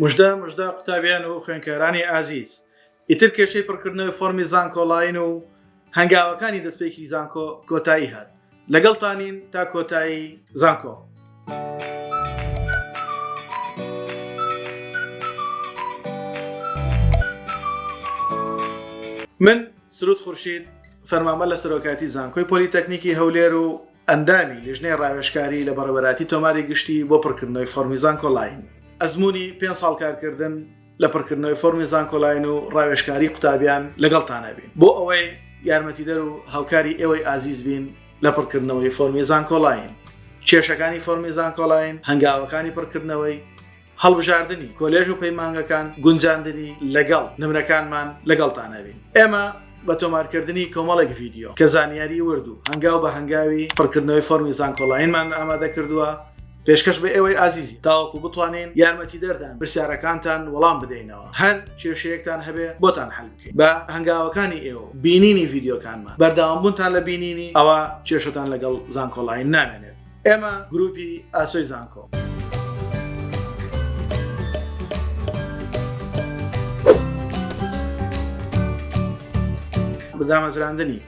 مژدە مژدە قوتابیان و خوێنکارانی ئازیز ئیتر کێشەی پڕکردنەوەی فۆرمی زانکۆڵین و هەنگاوەکانی دەستپێکی زانکۆ کۆتایی هات لەگەڵ تانین تا کۆتایی زانکۆ. من سرود خورشید فەرمانبەر لە سەرۆکاتی زانکۆی پۆلیتەکنیکی هەولێر و ئەندامی لیژنەی ڕاوێژکاری لە بەڕێوەراتی تۆماری گشتی بۆ پڕکردنەوەی فۆرمی زانکۆلاین. ئەزموونی پێنج ساڵ کارکردن لە پڕکردنەوەی فۆرمی زانکۆلاین و ڕاوێژکاری قوتابیان لەگەڵتان هەبین بۆ ئەوەی یارمەتیدەر و هاوکاری ئێوەی ئازیز بین لە پڕکردنەوەی فۆرمی زانکۆلاین. کێشەکانی فۆرمی زانکۆلاین، هەنگاوەکانی پڕکردنەوەی. هەڵبژاردنی کۆلێژ و پەیمانگەکان گونجاندنی لەگەڵ نمرەکانمان لەگەڵتان ئەبین ئێمە بە تۆمارکردنی کۆمەڵێک ڤیددیو کە زانیاری ورد و هەنگاو بە هەنگاوی پڕکردنەوەی فۆرمی زانکۆڵاینمان ئامادە کردووە پێشکەش بە ئێوەی ئازیزی تاوەکو بتوانین یارمەتی دەردان پرسیارەکانتان وەڵام بدەینەوە هەر کێشەیەکتان هەبێ بۆتان حل بکەین بە هەنگاوەکانی ئێوە بینینی ڤیددیوکانمان بەرداوامبوونتان لە بینینی ئەوە کێشتان لەگەڵ زانکۆڵین نامێنێت ئێمە گروپی ئاسۆی زانکۆ. دامەزراندنی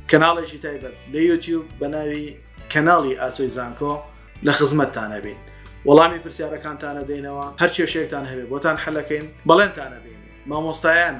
کەناڵێکی تایبەت لە یوتیوب بە ناوی کەناڵی ئاسۆی زانکۆ لە خزمەتتانەبین وەڵامی پرسیارەکانتانە دێنەوە هەر کێشێکتان هەبێ بۆتان حەلەکەین بەڵێنتانە دێن مامۆستایان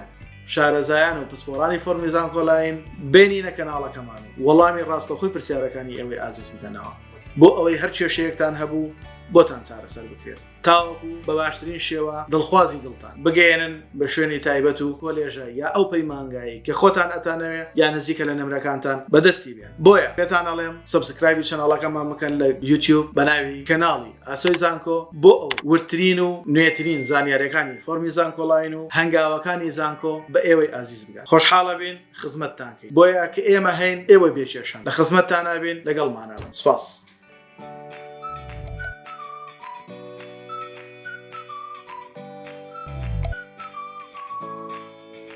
شارەزایان و پسپۆرانی فۆرمی زانکۆلاین بێنینە کەناڵەکەمان و وەڵامی ڕاستەخۆی پرسیارەکانی ئەوەی ئازیز بدەنەوە بۆ ئەوەی هەر کێشەیەکتان هەبوو بۆتان چارەسەر بکرێت تاوەکو بە باشترین شێوە دڵخوازی دڵتان بگەێنن بە شوێنی تایبەت و کۆلێژە یا ئەو پەیمانگایی کە خۆتان ئەتانەوێ یا نزیکە لە نمرەکانتان بەدەستی بێ بۆیە پێتان ئەڵێم سبسکرایبی چەناڵەکەمان بکەن لە یوتیوب بەناوی کەناڵی ئاسۆی زانکۆ بۆ ئەو ورترین و نوێترین زانیارەکانی فۆرمی زانکۆڵین و هەنگاوەکانی زانکۆ بە ئێوەی ئازیز بگات خۆشحاڵە بین خزمەتتانکەین بۆیە کە ئێمە هەین ئێوە بێکێشان لە خزمەتتانابین لەگەڵمانەوەن سپاس.